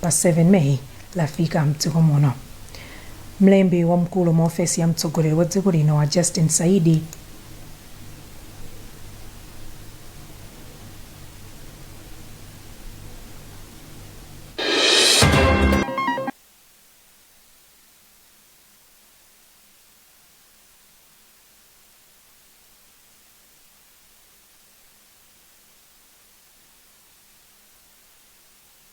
pa 7 May lafika m'dziko muno. Mlembi wamkulu mu ofesi ya mtsogoleri wa dziko lino a Justin Saidi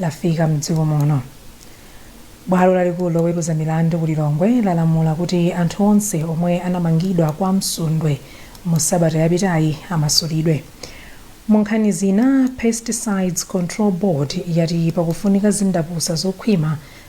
lafika mdziko muno bwalo lalikulu loweruza milandu ku lilongwe lalamula kuti anthu onse omwe anamangidwa kwa msundwe mu sabata yapitayi amasulidwe mu nkhani zina pesticides control board yati pakufunika zindapusa zokhwima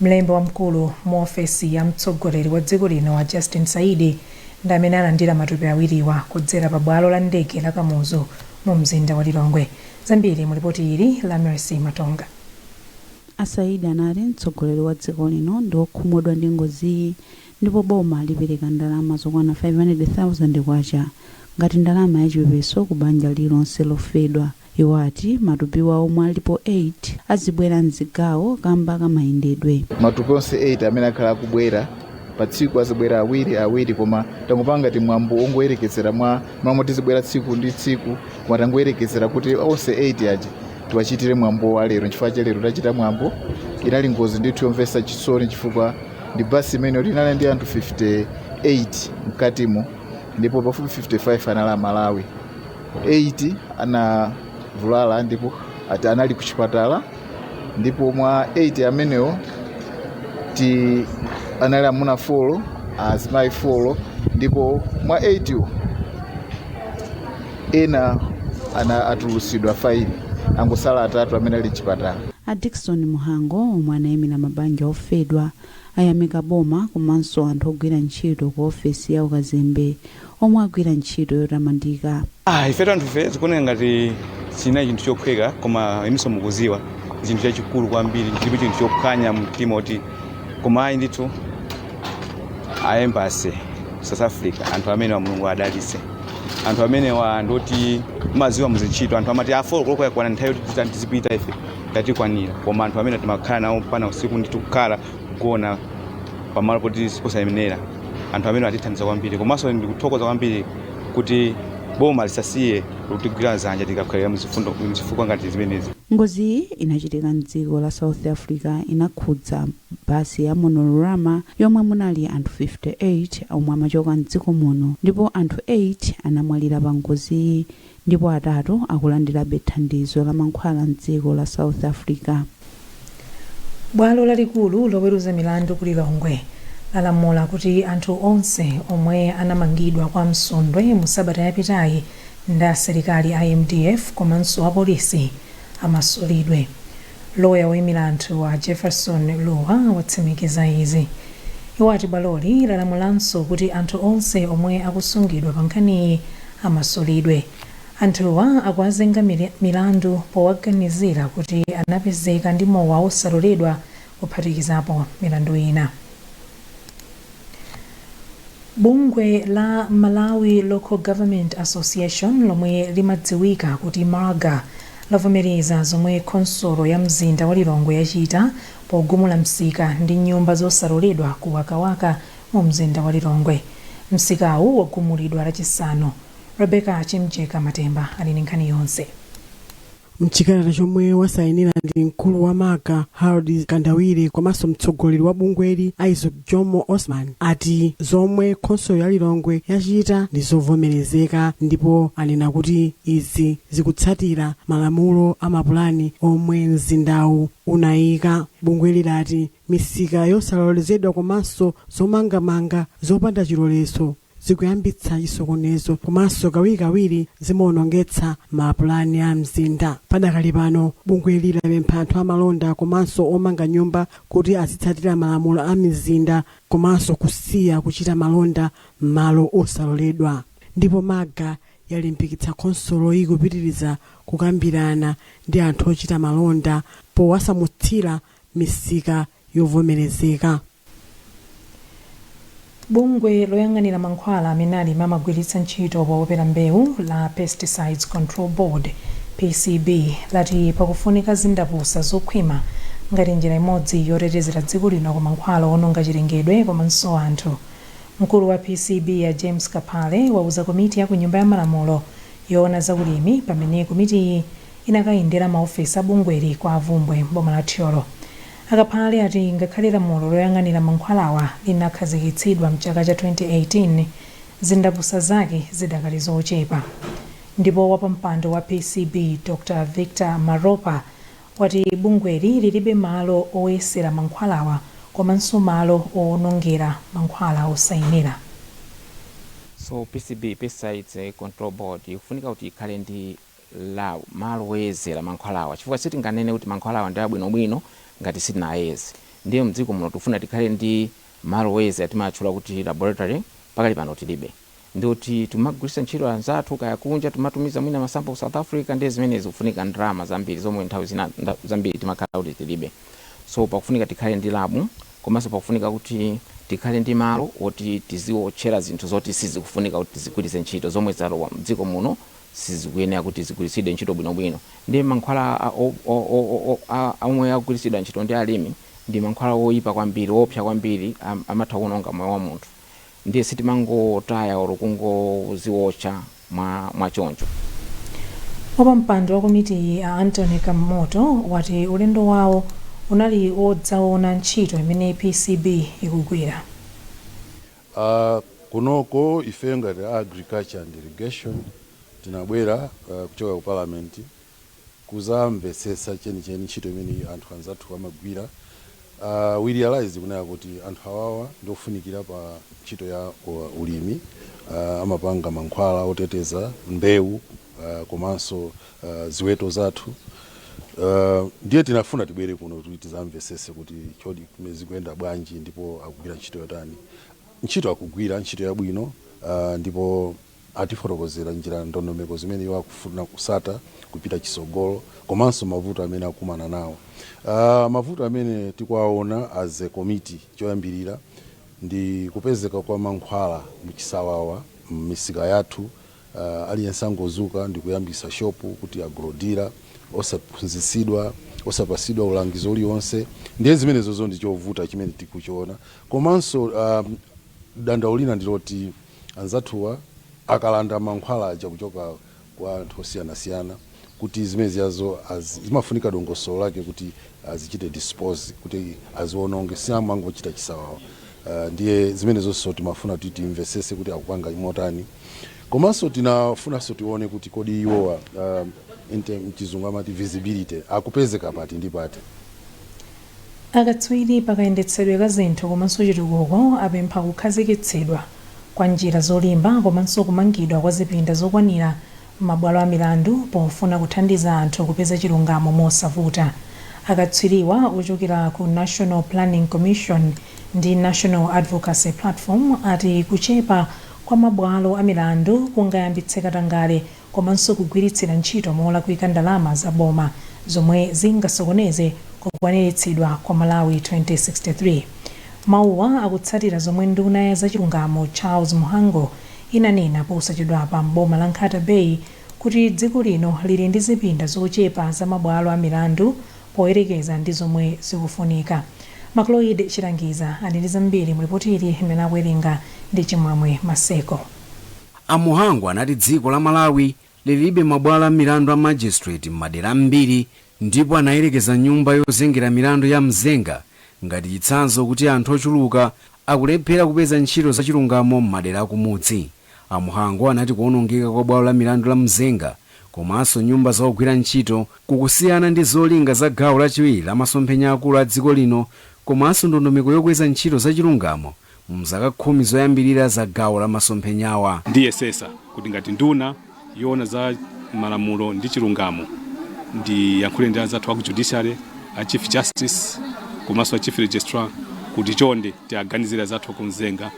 Mlembi wamkulu mu ofesi ya mtsogoleri wa dziko lino a Justin Saidi ndi amene alandira matupi awiriwa kudzera pa bwalo la ndege la Kamuzu mu mzinda wa Lilongwe. Zambiri mu lipoti ili la Mercy Matonga. A Saidi anati mtsogoleri wa dziko lino ndi okhumudwa ndi ngoziyi ndipo boma lipereka ndalama zokwana 500,000 kwacha ngati ndalama yachipepeso ku banja lililonse lofedwa. Iwo ati matupiwa omwe alipo 8 azibwera m'zigawo kamba ka mayendedwe. Matupi onse 8 amene akhala akubwera pa tsiku azibwera awiri awiri koma tangopanga ngati mwambo wongoyerekezera mwa malo moti azibwera tsiku ndi tsiku koma tangoyerekezera kuti onse 8 aja tiwachitire mwambo wa lero nchifukwa chake lero tachita mwambo inali ngozi ndithu yomvetsa chisoni chifukwa ndi basi imene yoti inali ndi anthu 58 mkatimo ndipo pafupi 55 anali amalawi 8 anavulala ndipo 8 anali ku chipatala ndipo mwa 8 amenewo oti anali amuna 4 azimayi 4 ndipo mwa 8 wo ena atulusidwa 5 angosala atatu amene ali mchipatala a dickson muhango omwe anayimira mabanja ofedwa ayamika boma komanso anthu ogwira ntchito ku ofesi ya ukazembe omwe agwira ntchito yotamandika. Ah, ife tanthufe zikuoneka ngati sinali chinthu chophweka koma inunso mukuziwa chinthu chachikulu kwambiri chilipo chinthu chophwanya mtima oti koma ayi ndithu a embassy south africa anthu amenewa mulungu adalitse anthu amenewa ndoti maziwa muzintchito anthu amati 4 koloko yakwana nthawi yoti tizipita ife tatikwanira koma anthu amene timakhala nawo mpaka usiku ndithu kukhala kugona pamalo poti siposayenera anthu amene atithandiza kwambiri komanso ndikuthokoza kwambiri kuti boma lisasiye kutigwira zanja tikakhalira muzifukwa ngati zimenezi Ngoziyi inachitika m'dziko la South Africa inakhudza basi ya Monorama yomwe munali anthu 58 omwe amachoka m'dziko muno ndipo anthu 8 anamwalira pa ngoziyi ndipo atatu akulandirabe thandizo la mankhwala m'dziko la South Africa. Bwalo lalikulu loweruza milandu ku Lilongwe lalamula kuti anthu onse omwe anamangidwa kwa Msundwe mu sabata yapitayi ndi asilikali a mdf komanso apolisi amasulidwe. Loya woimira anthuwa a Jefferson Luwa watsimikiza izi. Iwo ati bwaloli lalamulanso kuti anthu onse omwe akusungidwa pa nkhaniyi amasulidwe. Anthuwa akuwazenga milandu powaganizira kuti anapezeka ndi mowa wosaloledwa kuphatikizapo milandu ina. Bungwe la Malawi Local Government Association lomwe limadziwika kuti Malga lavomereza zomwe khonsolo ya mzinda wa Lilongwe yachita pogumula msika ndi nyumba zosaloledwa ku Wakawaka mu mzinda wa Lilongwe. Msikawu wagumulidwa lachisanu. Rebecca Chimjeka Matemba ali ndi nkhani yonse. Mchikalata chomwe wasainira ndi mkulu wa Malga, Hadrod Mkandawire komanso mtsogoleri wa bungweli, Isaac Jomo Osman, ati zomwe khonsolo ya Lilongwe yachita ndi zovomerezeka ndipo anena kuti izi zikutsatira malamulo a mapulani omwe mzindawu unaika. Bungweli lati Misika yosalolezedwa komanso zomangamanga zopanda chilolezo zikuyambitsa chisokonezo komanso kawirikawiri zimaonongetsa mapulani a mzinda. Padakali pano, bungweli lapempha anthu amalonda komanso omanga nyumba kuti azitsatira malamulo a mizinda komanso kusiya kuchita malonda m'malo osaloledwa. Ndipo Malga yalimbikitsa khonsoloyi kupitiriza kukambirana ndi anthu ochita malonda powasamutsira misika yovomerezeka. bungwe loyang'anira mankhwala amene alimi amagwiritsa ntchito popopera mbewu la pesticides control board pcb lati pakufunika zindapusa zokhwima ngati njira imodzi yotetezera dziko lino ku mankhwala owononga chilengedwe komanso anthu mkulu wa pcb a james kaphale wauza komiti ya ku nyumba ya malamulo yoona za ulimi pamene komitiyi inakayendera maofesi a bungweli kwa Bvumbwe m'boma la Thyolo. A Kaphale ati ngakhale lamulo loyang'anira mankhwalawa linakhazikitsidwa mchaka cha 2018, zindapusa zake zidakali zochepa. Ndipo wapampando wa PCB Dr Victor Maropa wati bungweli lilibe malo oyesera mankhwalawa komanso malo owonongera mankhwala osayenera. So PCB, Pesticides Control Board, ikufunika kuti ikhale ndi malo woyezera mankhwalawa chifukwa sitinganene kuti mankhwalawa ndi abwinobwino ngati sitinayeze ndiye mdziko muno tikufuna tikhale ndi malo woyezera timawatchula kuti laboratory pakali pano tilibe ndiye kuti tikumagwiritsa ntchito anzathu kaya kunja timatumiza mwina ma sample ku South Africa ndiye zimenezi zikufunika ndalama zambiri zomwe nthawi zina zambiri timakhala kuti tilibe so pakufunika tikhale ndi lab komanso pakufunika kuti tikhale ndi malo woti tiziwotchera zinthu zoti sizikufunika kuti tizigwiritse ntchito zomwe zalowa mdziko muno sizikuyenera kuti zigwiritsidwe ntchito bwinobwino ndiye mankhwala a, o, o, o, o, o, a, a omwe akugwiritsidwa ntchito ndi alimi ndi mankhwala oyipa kwambiri oopsa kwambiri am, amatha kuononga moyo wa munthu ndiye sitimangotaya olo kungoziwotcha mwa, mwa choncho wapampando wa komitiyi a Anthony Kamoto wati ulendo wawo unali wodzaona ntchito imene pcb ikugwira A kunoko ifeyo ngati a Agriculture and Irrigation tinabwera kuchoka ku Parliament kuzamvetsetsa chenicheni ntchito imene anthu anzathuwa amagwira. We realised kunena kuti anthu awawa ndi ofunikira pa ntchito ya ulimi, amapanga mankhwala oteteza mbewu komanso. uh, ziweto zathu uh, ndiye tinafuna tibwere kuno kuti tizamvesese kuti kodi zikuyenda bwanji ndipo akugwira ntchito yotani ntchito akugwira ntchito yabwino uh, ndipo atifotokozera njira ndondomeko zimene iwo akufuna kusata kupita chisogolo komanso mavuto amene akumana nawo uh, mavuto amene tikuwaona as a committee choyambirira ndi kupezeka kwa mankhwala muchisawawa m'misika yathu Aliyense angozuka ndikuyambisa shop kuti agro-dealer osaphunzisidwa osapasidwa ulangizi ulionse ndiye zimenezozo ndichovuta chimene tikuchiona komanso dandaulo lina ndiloti anzathuwa akalanda mankhwala aja kuchoka kwa anthu osiyanasiyana kuti zimene zijazo zimafunika dongosolo lake kuti azichite dispose kuti aziononge siamangochita chisawawa ndiye zimenezonso timafuna kuti timvesese kuti akupanga motani. Komanso tinafunanso tione kuti kodi iwowa um, in term- mchizungu amati visibility akupezeka pati ndi pati Akatswiri pa kayendetsedwe ka zinthu komanso chitukuko apempha kukhazikitsidwa kwa njira zolimba komanso kumangidwa kwa zipinda zokwanira m'mabwalo a milandu pofuna kuthandiza anthu kupeza chilungamo mosavuta. Akatswiriwa ochokera ku National Planning Commission ndi National Advocacy Platform ati kuchepa kwa mabwalo a milandu kungayambitse katangale komanso kugwiritsira ntchito molakwika ndalama za boma, zomwe zingasokoneze kukwaniritsidwa kwa Malawi 2063. Mawuwa akutsatira zomwe nduna ya zachilungamo Charles Mhango inanena posachedwapa m'boma la Nkhata Bay kuti dziko lino lili ndi zipinda zochepa za mabwalo a milandu poyerekeza ndi zomwe zikufunika. Macloyd Chilangiza ali ndi zambiri mu lipoti ili limene akuwerenga ndi Chimwemwe Maseko. A Mhango anati dziko la Malawi lilibe mabwalo a milandu a magistrate m'madera ambiri ndipo anayerekeza nyumba yozengera milandu ya Mzenga ngati chitsanzo kuti anthu ochuluka akulephera kupeza ntchito zachilungamo m'madera akumudzi. A Mhango anati kuonongeka kwa bwalo la milandu la Mzenga komanso nyumba za ogwira ntchito kukusiyana ndi zolinga za gawo lachiwiri la masomphenya aakulu a dziko lino komanso ndondomeko yokweza ntchito zachilungamo mzaka khumi zoyambirira za gawo la masomphenyawa. Ndiyesetsa kuti ngati nduna yoona za malamulo ndi chilungamo ndiyankhule ndi anzathu aku judiciary, a Chief Justice komanso a Chief Registrar kuti chonde tiaganizire anzathu aku Mzenga,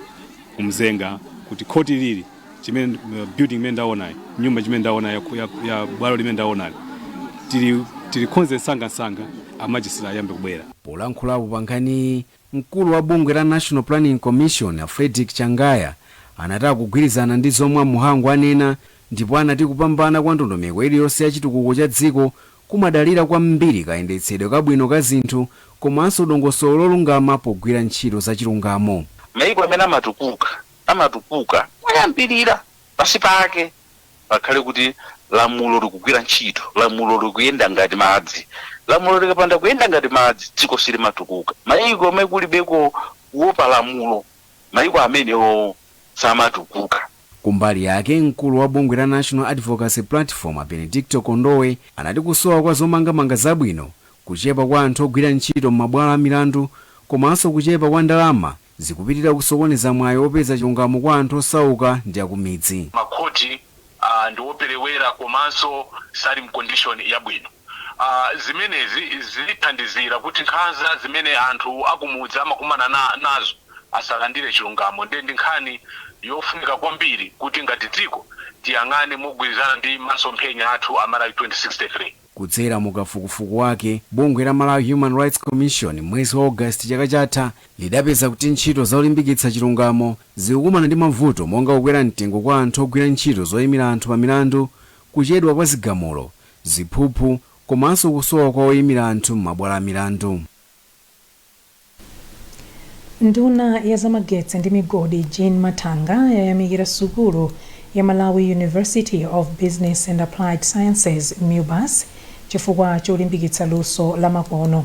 ku Mzenga kuti khoti ili chimene building imene ndaonayi, nyumba chimene ndaona ya, ya, ya bwalo limene ndaonali tili tilikhonze msangamsanga a magistrate ayambe kubwera. Polankhulapo pa nkhaniyi, Mkulu wa bungwe la National Planning Commission, Frederick Changaya, anati akugwirizana ndi zomwe a Mhango anena ndipo anati kupambana kwa ndondomeko iliyonse ya chitukuko cha dziko kumadalira kwambiri kayendetsedwe kabwino ka zinthu komanso dongosolo lolungama pogwira ntchito za chilungamo. Mayiko amene amatukuka, amatukuka moyambirira pansi pake pakhale kuti lamulo likugwira ntchito, lamulo likuyenda ngati madzi. Lamulo likapanda kuyenda ngati madzi, dziko silimatukuka. Mayiko amene kulibeko kuopa lamulo, mayiko amenewo samatukuka. Kumbali yake, mkulu wa bungwe la National Advocacy Platform, Benedicto Kondowe, anati kusowa kwa zomangamanga zabwino, kuchepa kwa anthu ogwira ntchito m'mabwalo a milandu komanso kuchepa kwa ndalama zikupitilira kusokoneza mwayi opeza chilungamo kwa anthu osauka ndi akumidzi. ma court ndi operewera komanso sali mu condition yabwino. zimenezi zikuthandizira kuti nkhanza zimene anthu akumudzi amakumana nazo asalandire chilungamo ndiye ndi nkhani yofunika kwambiri kuti ngati dziko tiyang'ane mogwirizana ndi masomphenya athu a Malawi 2063. Kudzera mu kafukufuku wake, bungwe la Malawi Human Rights Commission m'mwezi wa August chaka chatha lidapeza kuti ntchito zolimbikitsa chilungamo zikukumana ndi mavuto monga kukwera mtengo kwa anthu ogwira ntchito zoimira anthu pa milandu, kuchedwa kwa zigamulo, ziphuphu komanso kusowa kwa oimira anthu m'mabwalo a milandu. Nduna ya zamagetsi ndi migodi Jean Mathanga yayamikira sukulu ya Malawi University of Business and Applied Sciences, Mubas, chifukwa cholimbikitsa luso la makono.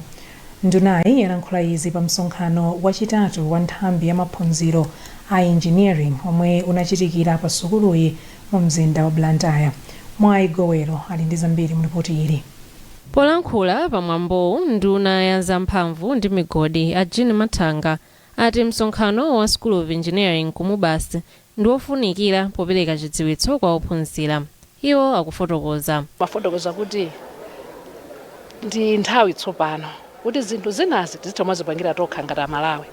Ndunayi yalankhula izi pa msonkhano wachitatu wa nthambi ya maphunziro a Engineering omwe unachitikira pa sukuluyi mu mzinda wa Blantyre. Mwai Gowelo ali ndi zambiri mu lipoti ili. Polankhula pa mwambowu, nduna ya za mphamvu ndi migodi a Jean Mathanga ati msonkhano wa School of Engineering ku Mubas ndi wofunikira popereka chidziwitso kwa ophunzira. Iwo akufotokoza. Ndi nthawi tsopano kuti zinthu zinazi tizitha kumazipangira tokha ngati a Malawi.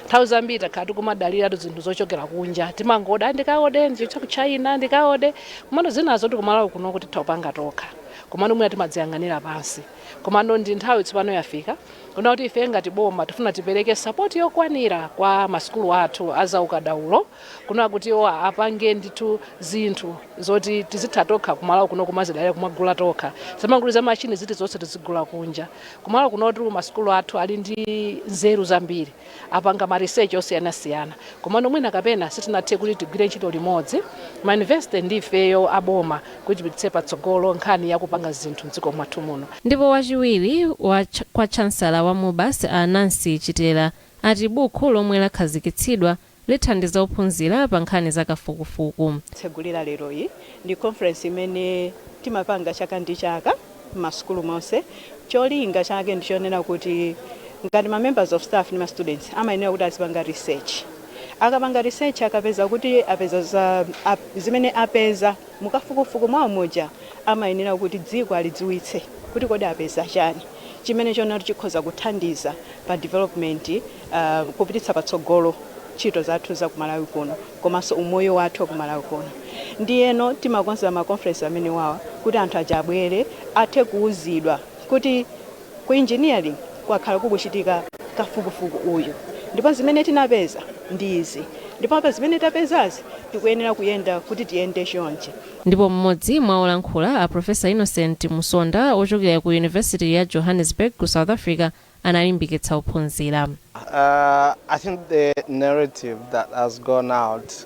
Nthawi zambiri takhala tikumadaliratu zinthu zochokera kunja, timangoda, ndikaode, ndipite ku China ndikaode, komano zinazitu ku Malawi kunoku titha kupanga tokha. komano mwina timadziyang'anira pansi komano ndi nthawi tsopano yafika kuna kuti ife ngati boma tifuna tipereke sapoti yokwanira kwa masukulu athu azaukadaulo kuna kuti iwo apange ndithu zinthu zoti tizitha tokha kumalawi kuno kumazidalira kumagula tokha zamanguli za mashini ziti zonse tizigula kunja kumalawi kunotu masukulu athu ali ndi nzeru zambiri apanga ma research osiyanasiyana komano mwina kapena sitinathe kuti tigwire ntchito limodzi ma university ndi ifeyo a boma kuti tipititse patsogolo nkhani ya kupanga zinthu m'dziko mwathu muno. Ndipo wachiwiri kwa Chansala wa Mubas a Nancy Chitera ati bukhu lomwe lakhazikitsidwa lithandiza ophunzira pa nkhani za kafukufuku. tsegulira leroyi ndi conference imene timapanga chaka ndi chaka m'masukulu monse. Cholinga chake ndi chonena kuti ngati ma members of staff ndi ma students amayenera kuti azipanga research. Akapanga research akapeza kuti apeza zimene apeza Mukafukufuku mwawo muja amayenera kuti dziko alidziwitse kuti kodi apeza chani chimene choti chikhoza kuthandiza pa development kupititsa patsogolo ntchito zathu za ku Malawi kuno komanso umoyo wathu wa ku Malawi kuno. Ndiyeno timakonza ma conference amenewawa kuti anthu aja abwere athe kuuzidwa kuti. Ku Engineering kwakhala kukuchitika kafukufuku uyu ndipo zimene tinapeza ndi izi ndipo apa zimene tapezazi tikuyenera kuyenda kuti tiyende chonchi. Ndipo m'modzi mwa olankhula, a Prof. Innocent Musonda ochokera ku University ya Johannesburg ku South Africa analimbikitsa ophunzira. I think the narrative that has gone out.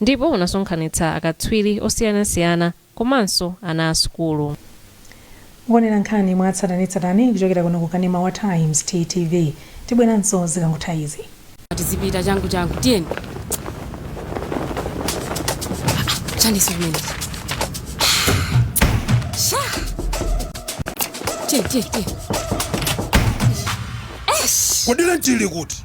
ndipo unasonkhanitsa akatswiri osiyanasiyana komanso ana a sukulu. Mukuonera nkhani mwa tsatanetsatane kuchokera kuno ku kanema wa Times, TTV. Tibweranso zikangotha izi. Tizipita changu changu tiyeni. Chani chimenechi? Sha! Tiyeni tiyeni tiyeni. Esh! Kodi lenti ili kuti?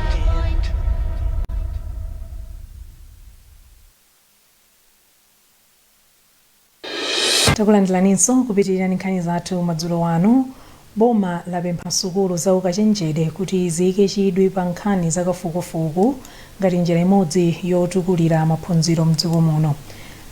Takulandilaninso kupitilira ndi nkhani zathu madzulo ano. Boma lapempha sukulu za ukachenjede kuti ziyike chidwi pa nkhani za kafukufuku ngati njira imodzi yotukulira maphunziro mdziko muno.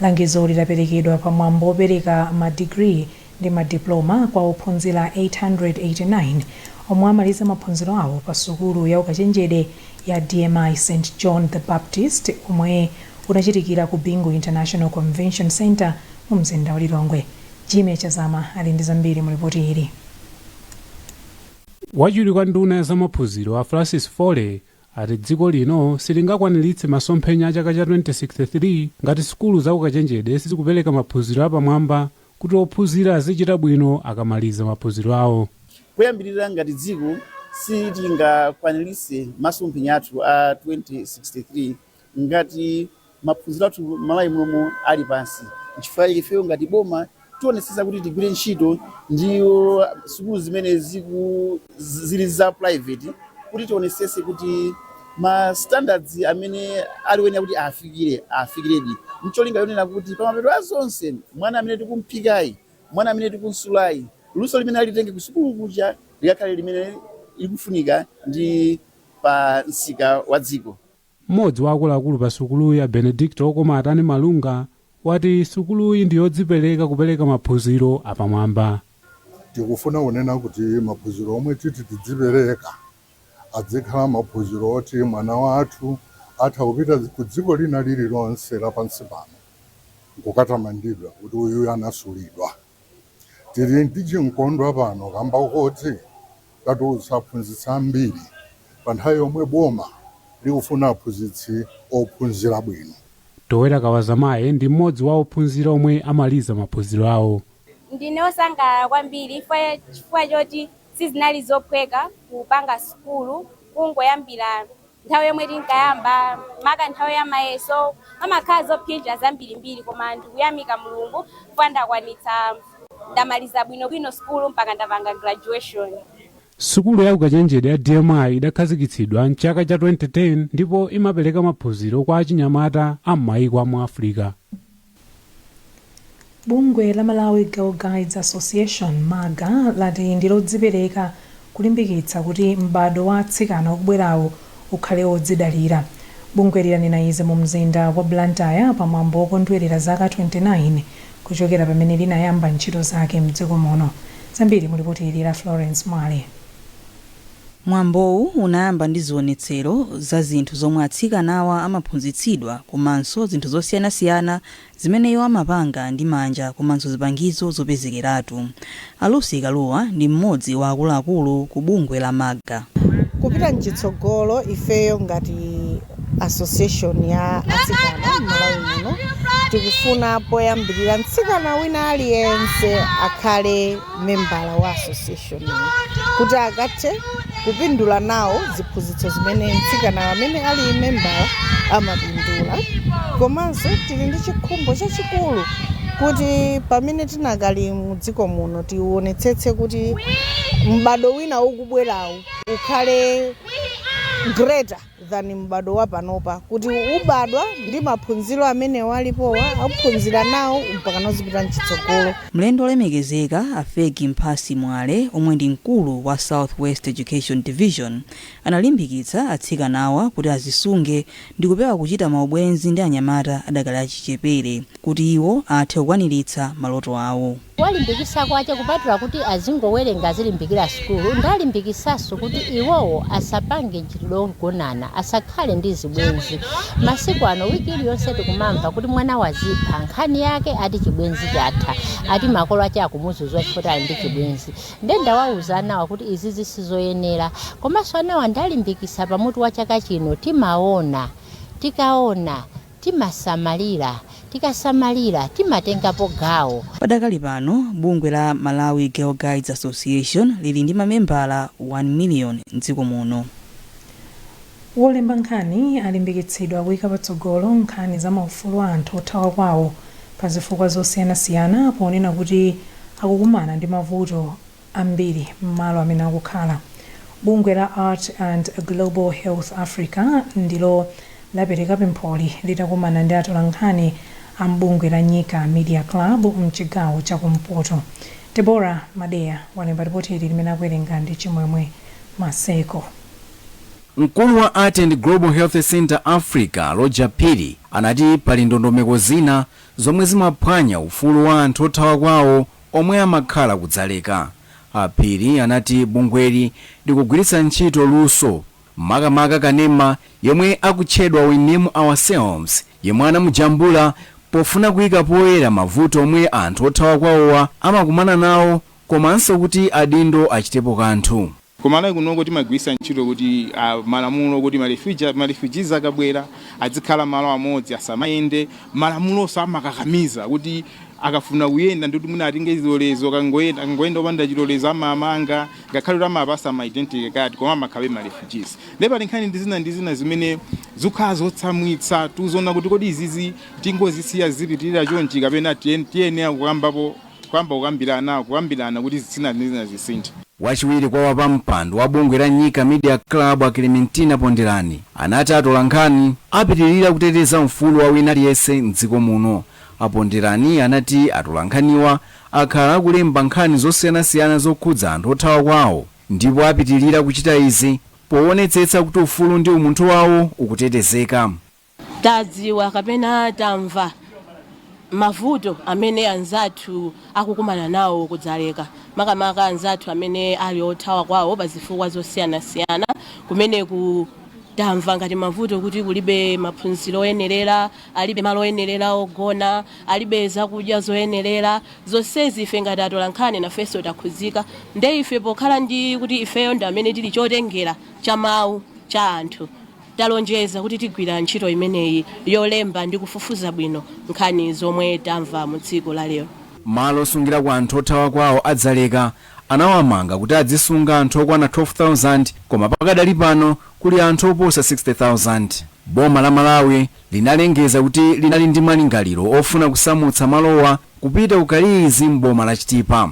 Langizo ili laperekedwa pa mwambo opereka ma degree ndi ma diploma kwa ophunzira 889 omwe amaliza maphunziro awo pa sukulu ya ukachenjede ya DMI St John the Baptist omwe unachitikira ku Bingu International Convention Centre mu mzinda wa Lilongwe. Jimmy Chazama ali ndi zambiri mu lipoti ili. Wachiwiri kwa nduna ya zamaphunziro a Francis Fole ati dziko lino silingakwaniritse masomphenya a chaka cha 2063 ngati sukulu za ukachenjede sizikupereka maphunziro apamwamba kuti ophunzira azichita bwino akamaliza maphunziro awo. Poyambirira ngati dziko sitingakwaniritse masomphenya athu a 2063 ngati maphunziro athu m'Malawi momuno ali pansi. Nchifukwa chake ifeyo ngati boma tionetsetsa kuti tigwire ntchito ndi sukulu zimene ziku. zi- zili za private kuti tionesese kuti ma standards amene ali wenera kuti afikire afikiredi ndi cholinga yonena kuti pamapeto a zonse mwana amene tikumphikayi mwana amene tikumsulayi luso limene alitenge kusukulu kuja likakhale limene likufunika ndi pa msika wa dziko Mmodzi wa akuluakulu pa sukuluyi a Benedicto Wokomaatani Malunga wati sukuluyi ndi yodzipereka kupereka maphunziro apamwamba. Tikufuna kunena kuti maphunziro omwe titi tidzipereka adzikhala maphunziro oti mwana wathu atha kupita ku dziko lina lililonse la pansi pano nkukatamandidwa kuti uyuyu anasulidwa. Tili ndi chimkondwa pano kamba koti tatulutsa aphunzitsi ambiri pa nthawi yomwe boma likufuna aphunzitsi ophunzira bwino. Towera Kawazamaye ndi m'modzi wa ophunzira omwe amaliza maphunziro awo. Ndine osangalala kwambiri chifukwa choti sizinali zophweka kupanga sukulu kungoyambira. nthawi yomwe tinkayamba maka nthawi ya mayeso pamakhala zophinja zambirimbiri koma ndikuyamika mulungu chifukwa ndakwanitsa ndamaliza bwinobwino sukulu mpaka ndapanga graduation Sukulu ya ukachenjede ya DMI idakhazikitsidwa m'chaka cha 2010 ndipo imapereka maphunziro kwa achinyamata a m'mayiko a mu Africa. Bungwe la Malawi Girl Guides Association, MAGA, lati ndi lodzipereka kulimbikitsa kuti m'bado wa atsikana ukubwerawu ukhale wodzidalira. Bungweli lanena izi mu mzinda wa Blantyre pa mwambo wokondwelera zaka 29 kuchokera pamene linayamba ntchito zake mdziko muno. Zambiri mu lipoti ili la Florence Mwale. Mwambowu unayamba ndi zionetsero za zinthu zomwe atsikanawa amaphunzitsidwa komanso zinthu zosiyanasiyana zimene iwo amapanga ndi manja komanso zipangizo zopezekeratu. A Lucy Kaluwa ndi mmodzi wa akuluakulu ku bungwe la MAGA. Kupita mchitsogolo, ifeyo ngati Association ya atsikana m'Malawi muno tikufuna poyambirira mtsikana wina aliyense akhale membala wa association kuti akathe kupindula nawo ziphunzitso zimene mtsikana amene ali membala amapindula komanso tili ndi chikhumbo chachikulu kuti pamene tinakali mu dziko muno tionetsetse kuti m'bado wina ukubwerawu ukhale greater than m'bado wa panopa kuti ubadwa ndi maphunziro amene alipowa akuphunzira nawo mpakana uzipita mchitsogolo. Mlendo olemekezeka a Feggie Mphasi Mwale omwe ndi mkulu wa South West Education Division analimbikitsa atsikanawa kuti azisunge ndikupewa kuchita maubwenzi ndi anyamata adakali achichepere kuti iwo athe kukwanilitsa maloto awo. Kuwalimbikisa kwache kupatula kuti azingowerenga azilimbikira sukulu ndalimbikisaso kuti iwowo asapange nchitidwe ogonana asakhale ndi zibwenzi masiku ano week iliyonse tikumamva kuti mwana wazipha nkhani yake ati chibwenzi chatha ati makolo ache akumuzuza chifukwa choti ali ndi chibwenzi nde ndawauza anawa kuti izizi si zoyenera komaso anawa ndalimbikisa pa mutu wa chaka chino timaona tikaona Timasamalira, tikasamalira timatengapo gawo. Padakali pano, bungwe la Malawi Girl Guides Association lili ndi mamembala 1 miliyoni m'dziko muno. Olemba nkhani alimbikitsidwa kuika patsogolo nkhani za maufulu a anthu othawa kwawo pa zifukwa zosiyanasiyana ponena kuti akukumana ndi mavuto ambiri m'malo amene akukhala. Bungwe la Art and Global Health Africa ndilo lapereka pempholi litakumana ndi atolankhani a m'bungwe la Nyika Media Club m'chigawo cha kumpoto. Deborah Madeya walemba lipoti ili limene akuwerenga ndi Chimwemwe Maseko. Mkulu wa Art and Global Health Centre Africa, Rodger Phiri, anati pali ndondomeko zina zomwe zimaphwanya ufulu wa anthu othawa kwawo omwe amakhala ku Dzaleka. A Phiri anati bungweli likugwiritsa ntchito luso, makamaka kanema yemwe akutchedwa We Name Ourselves yemwe anamujambula pofuna kuika poyera mavuto omwe anthu othawa kwawowa amakumana nawo komanso kuti adindo achitepo kanthu. Ku Malawi kunoko timagwiritsa ntchito kuti malamulo kuti ma refuge ma refugees akabwera adzikhala malo amodzi asamayende. Malamulonso amakakamiza kuti akafuna kuyenda ndi kuti mwina atenge chilolezo akangoyenda akangoyenda opanda chilolezo amawamanga ngakhale kuti amawapatsa ma identity card koma amakhalabe ma refugees. Ndiye pali nkhani zina ndi zina zimene zikukhala zotsamwitsa tikuona kuti kodi izizi tingozisiya zizipitilira chonchi kapena tiyen tiyenera kukambapo Kuyamba kukambirana, kukambirana kuti zina ndi zina zisinthe. Wachiwiri kwa wapampando wa bungwe la Nyika Media Club a Clementina Pondelani anati atolankhani apitilira kuteteza ufulu wa wina aliyense m'dziko muno. A Pondelani anati atolankhaniwa akhala akulemba nkhani zosiyanasiyana zokhudza anthu othawa kwawo ndipo apitilira kuchita izi powonetsetsa kuti ufulu ndi umunthu wawo ukutetezeka. Tadziwa kapena tamva mavuto amene anzathu akukumana nawo ku Dzaleka, makamaka anzathu amene ali othawa kwawo pa zifukwa zosiyanasiyana kumeneko. Tamva ngati mavuto kuti kulibe maphunziro oyenerera, alibe malo oyenerera ogona, alibe zakudya zoyenerera. Zonsezi ife ngati atolankhani nafenso takhudzika. Nde ife pokhala ndi kuti ifeyo ndi amene tili chotengera cha mawu cha anthu, Talonjeza kuti tigwira ntchito imeneyi yolemba ndi kufufuza bwino nkhani zomwe tamva mu tsiku la lero. Malo osungirako anthu othawa kwawo a Dzaleka anawamanga kuti adzisunga anthu okwana 12,000 koma pakadali pano kuli anthu oposa 60,000. Boma la Malawi linalengeza kuti linali ndi malingaliro ofuna kusamutsa malowa kupita ku Kayilizi m'boma la Chitipa.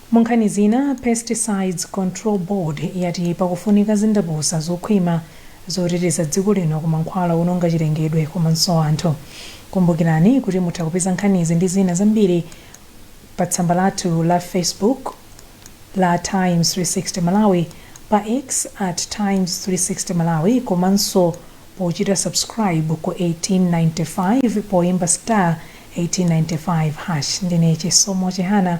Munkhani zina, Pesticides Control Board yati pakufunika zindapusa zokhwima zoteteza dziko lino ku mankhwala owononga chilengedwe komanso anthu. Kumbukirani kuti mutha kupeza nkhanizi ndi zina zambiri pa tsamba lathu la Facebook la Times 360 Malawi, pa X at Times 360 Malawi komanso pochita subscribe ku 1895 poimba star 1895 hash. Ndine Chisomo Chihana.